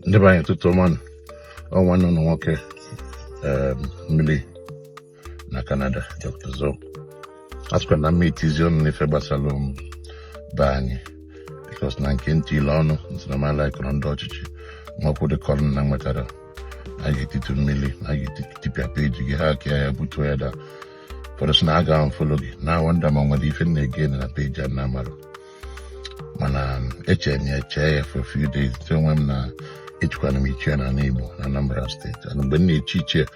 ndị be anyị ụtụtụ ọma nụ. ọ nwanne ụnụ nwoke em, mmiri na Canada Dr. Zo asịkwa na m ma etizi ọnụ n'ife gbasara m be anyị because na nke ntị ile ọnụ nsinamala kọrọ ndị ọchịchị nwakwụ dị kọrọ na nwetara a ga-etitu mmiri a ga-etipịa peji gị hackịa ya butuo ya daa ụfọdụ sị na a ga-unfollow gị na wonder ma nwere ife m na-ege na peji a na-amarọ mana um, echere m ya chee ya for few days nte onwe m na echikwana m ichie na Igbo na Anambra State ana mgbe m na-echi ichie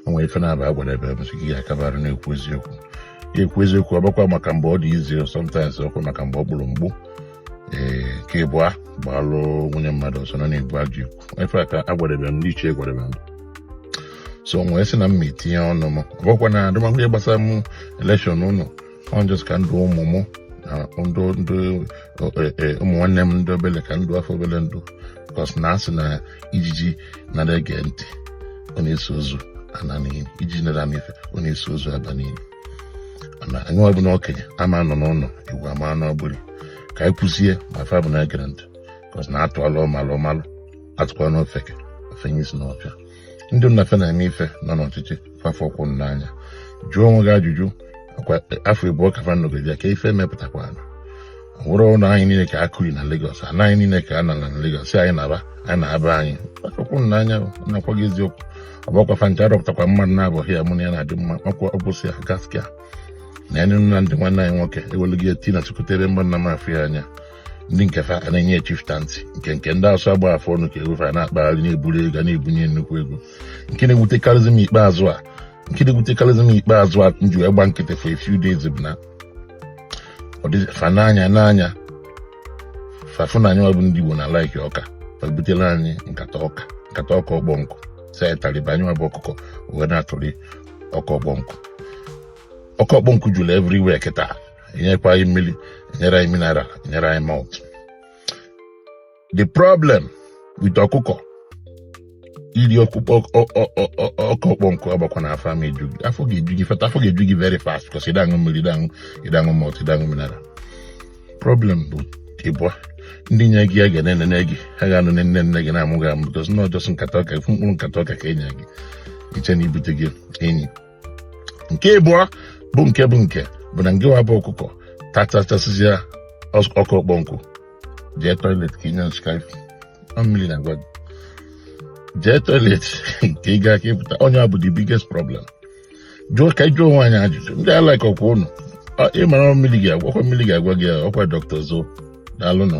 o nwere ife na-aba agwadebe m sị gị akabara na-ekwu eziokwu ya ekwu eziokwu ọ bụkwa maka mgbe ọ dị easy sometimes ọkwa maka mgbe ọ gburu mgbu ee nke ịbụa gbalụ nwunye mmadụ ọsọ na ọ na-egbu ajọ ikwu ife a ka a gwadebe m n'ichie gwadebe m so m wee sị na m ma etinye ọnụ m ọ bụkwa na adịmakwụnye gbasara m election ụnụ ọ just ka m dụ ụmụ mụ na ndụ ndụ e, e, ụmụ nwanne m ndị obele ka m dụa fa obele ndụ because na a sị na ijiji nara ege ntị ọ na-eso ozu ana n'ini ijiji nara ama ife ọ na-eso ozu aba n'ini na anyị wa bụ ndị okenye ama anọ n'ụlọ ewu amụa n'ọgbụrị ka anyị kwuzie ma fa bụ na egere ntị because na a tụalụ ọmalụ ọ malụ a tụkwanụ ofeke o fenye isi n'ọfịa ndị na fa na-eme ife nọ n'ọchịchị fa afụkwọ n'anya jụọ onwe gị ajụjụ ọ kwa afọ ịbụa ka fa nọgide kee ife mepụtakwanụ nwere ụlọ anyị niile ka a kụrị na Lagos ana anyị niile ka a nara na Lagos sị anyị naba anyị naba anyị fa afụkwọ n'anya na-agwa gị eziokwu ọ bụkwa fa ncha arọpụtakwa mmadụ na-abụghị ya mụ na ya na-adị mma ọkwa ọbụsị ya gaskiya na ya nụ na ndị nwanne anyị nwoke ewelu gị eti na chukwutere mgbanna m afụ ya anya ndị nke fa a na-enye chieftaincy nke nke ndị asụ agba afọ ọnụ ka e wee fa na-akpagharị na-eburu ego na-ebunye nnukwu ego nke na-ewutekarịzi m ikpeazụ a nke na-ewutekarịzi m ikpeazụ a m ji wee gba nkịtị for a few days bụ na fa n'anya n'anya fa fụ na anyị wa bụ ndị Igbo na-alike ọka fa butere anyị nkata ọka nkata ọka ọkpọ nkụ sị anyị taliba anyị bụ ọkụkọ wee na-atụrị ọka ọkpọ nkụ ọka ọkpọ nkụ jụrụ everywhere kịta enyekwa anyị mmiri enyere anyị mineral enyere anyị malt the problem with ọkụkọ iri ọkpụkpọ ọka ọkpọ nkụ abụkwa na afọ ama eju gị afọ ga-eju gị in fact afọ ga-eju gị very fast because ị da aṅụ mmiri ị da aṅụ ị da aṅụ malt ị da aṅụ mineral problem bụ ịbụa ndị nye gị ya ga na-enene gị ha ga-anọ na-enene gị na-amụ gị amụ because na ọ just nkata ọka mkpụrụ nkata ọka ka e nye gị ị chee na e bute gị enyi nke ịbụọ bụ nke bụ nke bụ na ngịwa bụ ọkụkọ tachachasịzịa ọka ọkpọ nkụ jee toilet ka ị nyụọ nsị ka mmiri na-agwa gị jee toilet nke ị ga-aka ịpụta onye a bụ the biggest problem jụọ ka anyị jụọ onwe anyị ajụjụ ndị a like ọkwa ụnụ mara mmiri ga-agwa gị ọkwa dọkịta zo daalụnụ